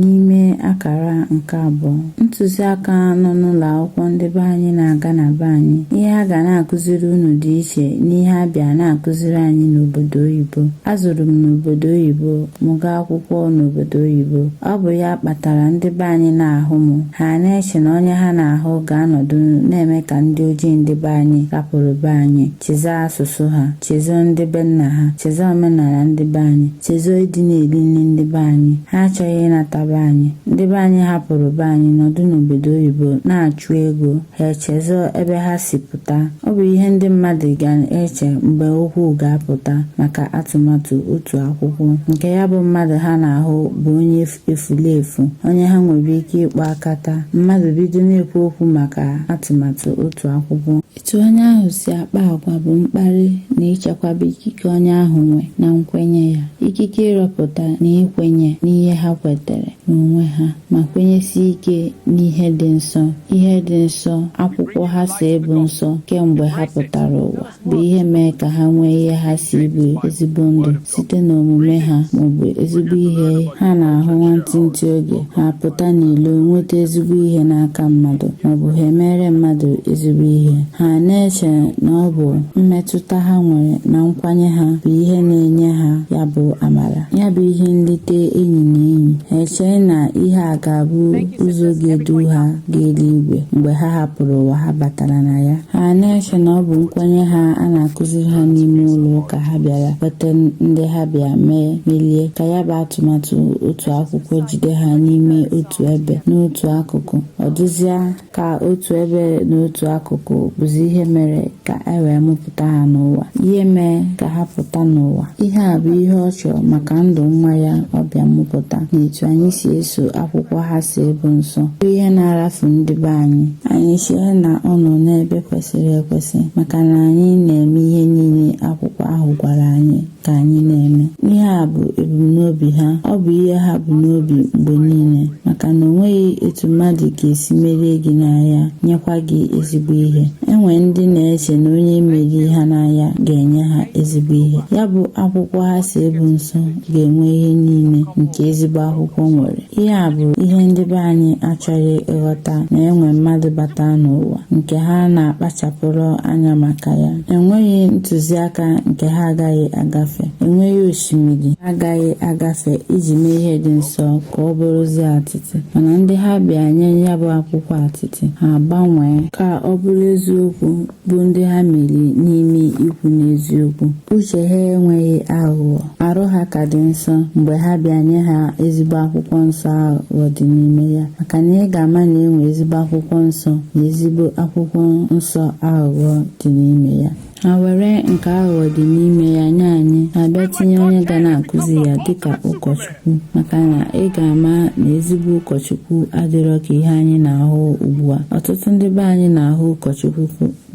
n'ime akara nke abụọ ntụziaka nọ n'ụlọ akwụkwọ ndị be anyị na-aga na be anyị ihe a ga na-akụziri unu dị iche n'ihe a bịa na-akụziri anyị n'obodo oyibo a zụrụ m n'obodo oyibo mụ gaa akwụkwọ n'obodo oyibo ọ bụ ya kpatara ndị be anyị na-ahụ m ha na-eche na onye ha na-ahụ ga-anọdụ na-eme ka ndị ojii ndị be anyị rapụrụ be anyị chezọ asụsụ ha chezọ ndị be nna ha chezọ omenala ndị be anyị chezọ ịdị na-eri nri ndị be anyị ha achọghị ịnata be anyị ndị be anyị hapụrụ be anyị nọdụ n'obodo oyibo na-achụ ego ha echezọ ebe ha si pụta ọ bụ ihe ndị mmadụ ga-eche mgbe okwu ga-apụta maka atụmatụ otu akwụkwọ nke ya bụ mmadụ ha na-ahụ bụ onye efulefu onye ha nwere ike ịkpọ akata mmadụ bido na-ekwu okwu maka atụmatụ otu akwụkwọ etu onye ahụ si akpa agwa bụ mkparị na ichekwaba ikike onye ahụ nwe na nkwenye ya ikike ịrọpụta na ikwenye n'ihe ha kwetere n'onwe ha ma kwenyesie ike n'ihe dị nsọ ihe dị nsọ akwụkwọ ha sị bụ nsọ kemgbe ha pụtara ụwa bụ ihe mee ka ha nwee ihe ha sị bụ ezigbo ndụ site n'omume ha maọbụ ezigbo ihe ha na-ahụ nwantịntị oge ha pụta n'ilo nweta ezigbo ihe n'aka mmadụ maọbụ ha emeere mmadụ ezigbo ihe ha na-eche na ọ bụ mmetụta ha nwere na nkwenye ha bụ ihe na-enye ha ya bụ amara ya bụ ihe nlite enyi na enyi ha echee na ihe a ga-abụ ụzọ ga-edu ha gaa eluigwe mgbe ha hapụrụ ụwa ha batara na ya ha na-eche na ọ bụ nkwenye ha a na-akụziri ha n'ime ụlọ ụka ha bịara kweta ndị ha bịa mee melie ka ya bụ atụmatụ otu akwụkwọ jide ha n'ime otu ebe n'otu akụkụ ọ dịzịa ka otu ebe na otu akụkụ bụzi ihe mere ka e wee mụpụta ha n'ụwa ihe mee ka ha pụta n'ụwa ihe a bụ ihe ọ chọrọ maka ndụ nwa ya ọ bịa mụpụta na etu anyị si eso akwụkwọ ha sị bụ nsọ bụ ihe na-arafu ndị be anyị anyị chee na ọ nọ n'ebe kwesịrị ekwesị maka na anyị na-eme ihe niile akwụkwọ ahụ gwara anyị ka anyị na-eme ihe a bụ ebumnobi ha ọ bụ ihe ha bu n'obi mgbe niile maka na o nweghị etu mmadụ ga-esi merie gị n'aya nyekwa gị ezigbo ihe e nwe ndị na-eche na onye meri ha n'aya ga-enye ha ezigbo ihe ya bụ akwụkwọ ha sị bụ nsọ ga-enwe ihe niile nke ezigbo akwụkwọ nwere ihe a bụ ihe ndị be anyị achọghị ịghọta na e nwe mmadụ bata n'ụwa nke ha na-akpachapụrụ anya maka ya enweghị ntụziaka nke ha agaghị agafe enweghị osimiri ha agaghị agafe iji mee ihe dị nsọ ka ọ bụrụzie atịtị mana ndị ha bịa nye ya bụ akwụkwọ atịtị ha gbanwee ka ọ bụrụ eziokwu bụ ndị ha meri n'ime ikwu n'eziokwu uche ha enweghị aghụghọ arụ ha ka dị nsọ mgbe ha bịa nye ha ezigbo akwụkwọ nsọ aghụghọ dị n'ime ya maka na ị ga-ama na enwe ezigbo akwụkwọ nsọ na ezigbo akwụkwọ nsọ aghụghọ dị n'ime ya ha were nke aghụghọ dị n'ime ya nye anyị ha bịa tinye onye ga na-akụzi ya dịka ụkọchukwu maka na ị ga-ama na ezigbo ụkọchukwu adịrọ ka ihe anyị na-ahụ ugbu a ọtụtụ ndị be anyị na-ahụ ụkọchukwu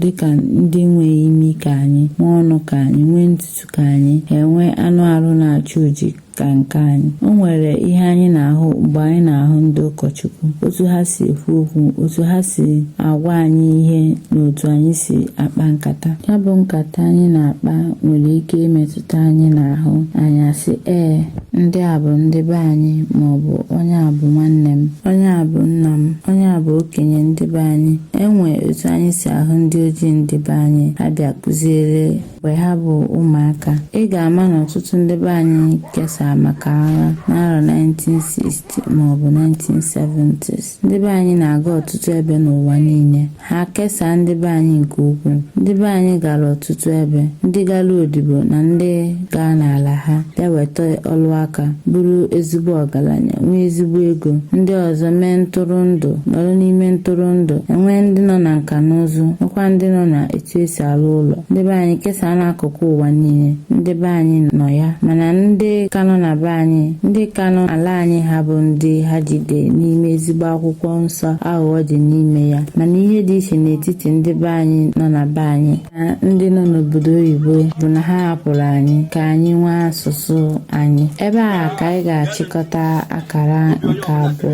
dịka ndị nwere imi ka anyị nwee ọnụ ka anyị nwee ntutu ka anyị ha enwe anụ arụ na-acha oji ka nke anyị o nwere ihe anyị na-ahụ mgbe anyị na-ahụ ndị ụkọchukwu otu ha si ekwu okwu otu ha si agwa anyị ihe na otu anyị si akpa nkata ya bụ nkata anyị na-akpa nwere ike imetụta anyị n'ahụ anyị asị ee ndị a bụ ndị be anyị ma ọ bụ onye a bụ nwanne m onye a bụ nna m onye a bụ okenye ndị be anyị enwe otu anyị si ahụ ndị ojii ndị be anyị ha bịa kụziere mgbe ha bụ ụmụaka ị ga-ama na ọtụtụ ndị be anyị kesara maka agha n'arọ 1960 maọbụ 1970s ndị be anyị na-aga ọtụtụ ebe n'ụwa niile ha kesaa ndị be anyị nke ukwuu ndị be anyị gara ọtụtụ ebe ndị gara odibo na ndị gaa n'ala ha bịa weta ọlụ aka bụrụ ezigbo ọgaranya nwee ezigbo ego ndị ọzọ mee ntụrụndụ nọrọ n'ime ntụrụndụ enwee ndị nọ na nka na ụzụ nwekwa ndị nọ na etu esi alụ ụlọ ndị be anyị kesaa n'akụkụ ụwa niile ndị be anyị nọ ya mana ndị ka nọ na be anyị ndị ka nọ ala anyị ha bụ ndị ha jide n'ime ezigbo akwụkwọ nsọ aghụghọ dị n'ime ya mana ihe dị iche n'etiti ndị be anyị nọ na be anyị na ndị nọ n'obodo oyibo bụ na ha hapụrụ anyị ka anyị nwee asụsụ anyị ebe a ka anyị ga-achịkọta akara nke abụọ